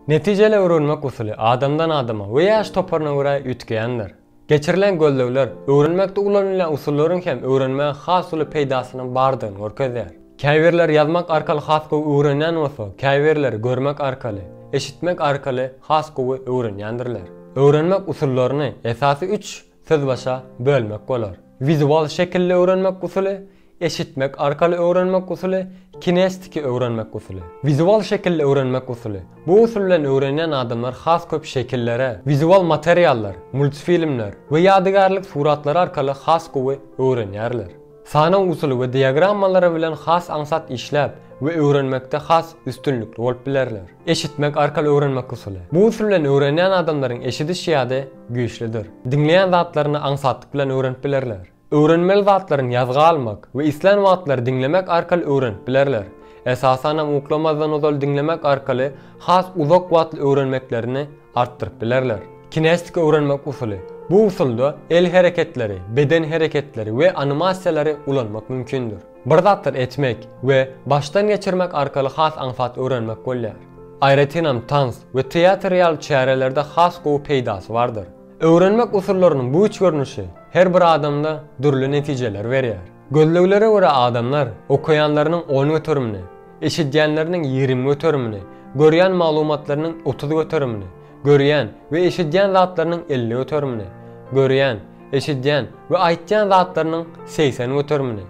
Netijeli öwrenmek usuly adamdan adama we ýaş toparyna görä üýtgeýändir. Geçirilen gözlegler öwrenmekde ulanylýan usullaryň hem öwrenmä has uly peýdasynyň bardygyny görkezýär. Käbirleri ýazmak arkaly has gowy öwrenýän bolsa, käbirleri görmek arkaly, eşitmek arkaly has gowy öwrenýändirler. Öwrenmek usullaryny esasy üç sözbaşa bölmek bolar. Wizual şekilli öwrenmek usuly, Eşitmek arkaly öwrenmek usuly, kinestiki öwrenmek usuly, wizual şekilli öwrenmek usuly. Bu usul bilen öwrenýän adamlar has köp şekillere, wizual materiallar, multfilmler we ýadygärlik suratlary arkaly has gowy öwrenýärler. Sanaw usuly we diagrammalary bilen has aňsat işläp we öwrenmekde has üstünlikli bolup bilerler. Eşitmek arkaly öwrenmek usuly. Bu usul bilen öwrenýän adamlaryň eşidiş ýady güýçlidir. Diňleýän zatlaryny aňsatlyk bilen öwrenip bilerler. Öwrenmeli zatlaryny ýazga almak we islän wagtlary diňlemek arkaly öwrenip bilerler. Esasanam uklamazdan ozal diňlemek arkaly has uzak wagtly öwrenmeklerini artdyryp bilerler. Kinestika öwrenmek usuly. Bu usulda el hereketleri, beden hereketleri we animasiýalary ulanmak mümkindir. Bir zatlar etmek we başdan geçirmek arkaly has aňsat öwrenmek bolýar. Aýratynam tans we teatr ýaly çärelerde has gowy peýdasy bardyr. Öwrenmek usullarynyň bu üç görnüşi her bir adamda dürli netijeleri berýär. Gözleglere görä adamlar okaýanlarynyň on göterimini, eşidýänleriniň ýigrimi göterimini, görýän maglumatlarynyň otuz göterimini, görýän we eşidýän zatlarynyň elli göterimini, görýän, eşidýän we aýtýan zatlarynyň segsen göterimini,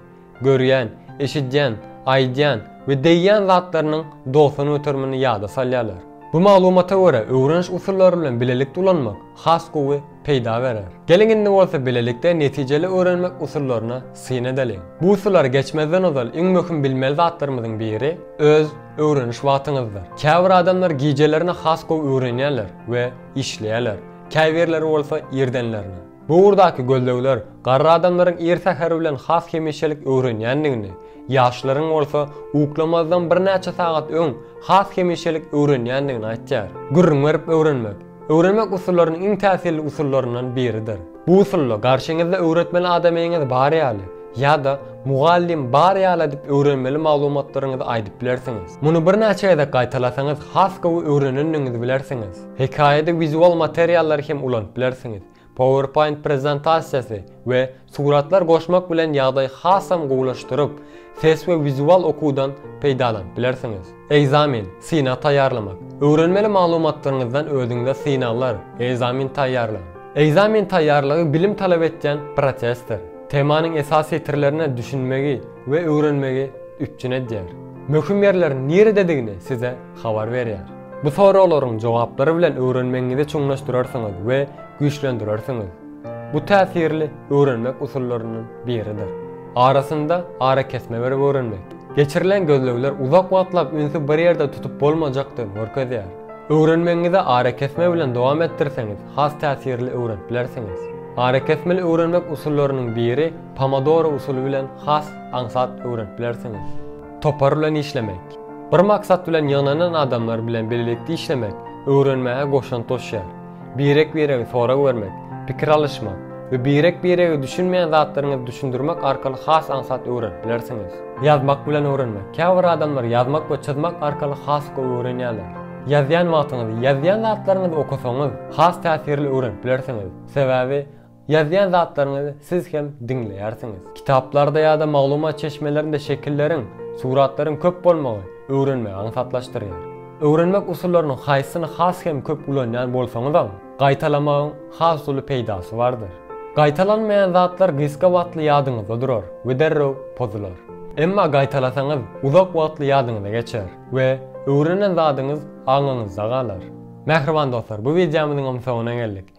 Görýän, eşidýän, aýdýan we degýän zatlarynyň dogsan göterimini ýada salýarlar. Bu maglumata görä öwreniş usullary bilen bilelikde ulanmak has gowy peýda berer. Geliň indi bolsa bilelikde netijeli öwrenmek usullaryna syn edeliň. Bu usullary geçmezden ozal iň möhüm bilmeli zatlarymyzyň biri öz öwreniş wagtyňyzdyr. Käbir adamlar gijelerine has gowy öwrenýärler we işleýärler, käbirleri bolsa irdenlerine. Bu ugurdaky gözlegler garry adamlaryň ir säher bilen has hemişelik öwrenýändigini, ýaşlaryň bolsa uklamazdan birnäçe sagat öň has hemişelik öwrenýändigini aýtýar. Gürrüň berip öwrenmek, öwrenmek usullarynyň iň täsirli usullaryndan biridir. Bu usulda garşyňyzda öwretmeli adamyňyz bar ýaly ýa-da mugallym bar ýaly edip öwrenmeli maglumatlaryňyzy aýdyp bilersiňiz. Muny birnäçe gezek gaýtalasaňyz has gowy öwrenendigiňizi bilersiňiz. Hekaýada wizual materiallary hem ulanyp bilersiňiz. Powerpoint prezentasiýasy we suratlar goşmak bilen ýagdaý hasam gowulaşdyryp, ses we wizual okuwdan peýdalanyp bilersiňiz. Ekzamen, synag taýýarlamak. Öwrenmeli maglumatlaryňyzdan özüňize synaglar, ekzamen taýýarlaň. Ekzamen taýýarlygy bilim talap etýän prosesdir. Temanyň esasy setirlerine düşünmegi we öwrenmegi üpjün edýär. Möhüm ýerleriň nirededigini size habar berýär. Bu soraglaryň jogaplary bilen öwrenmegiňizi çuňlaşdyrarsyňyz we güýçlendirersiňiz. Bu täsirli öwrenmek usullarynyň biridir. Arasynda arakesme berip öwrenmek. Geçirilen gözlegler uzak wagtlap ünsi bir ýerde tutup bolmajakdygyny görkezýär. Öwrenmegiňizi arakesme bilen dowam etdirseňiz, has täsirli öwrenip bilersiňiz. Arakesmeli öwrenmek usullarynyň biri Pomodoro usuly bilen has aňsat öwrenip bilersiňiz. Topar bilen işlemek. Bir maksat bilen ýygnanan adamlar bilen bilelikde işlemek öwrenmäge goşant goşýar. Birek-biregi sorag bermek, pikir alyşmak we birek-birege düşünmeýän zatlaryňyzy düşündirmek arkaly has aňsat öwrenip bilersiňiz. Ýazmak bilen öwrenmek. Käbir adamlar ýazmak we çyzmak arkaly has gowy öwrenýärler. Ýazýan wagtyňyzy, ýazýan zatlaryňyzy okasaňyz, has täsirli öwrenip bilersiňiz. Sebäbi Ýazýan zatlaryňyzy siz hem diňleýärsiňiz. Kitaplarda ýa-da maglumat çeşmelerinde şekilleriň, suratlaryň köp bolmagy öwrenmegi aňsatlaşdyrýar. Öwrenmek usullarynyň haýsysyny has hem köp ulanýan bolsaňyzam, gaýtalamagyň has uly peýdasy bardyr. Gaýtalanmaýan zatlar gysga wagtly ýadyňyzda durar we derrew pozular. Emma gaýtalasaňyz, uzak wagtly ýadyňyza geçer we öwrenen zadyňyz aňyňyzda galar. Mähriban dostlar, bu wideomyzyňam soňuna geldik.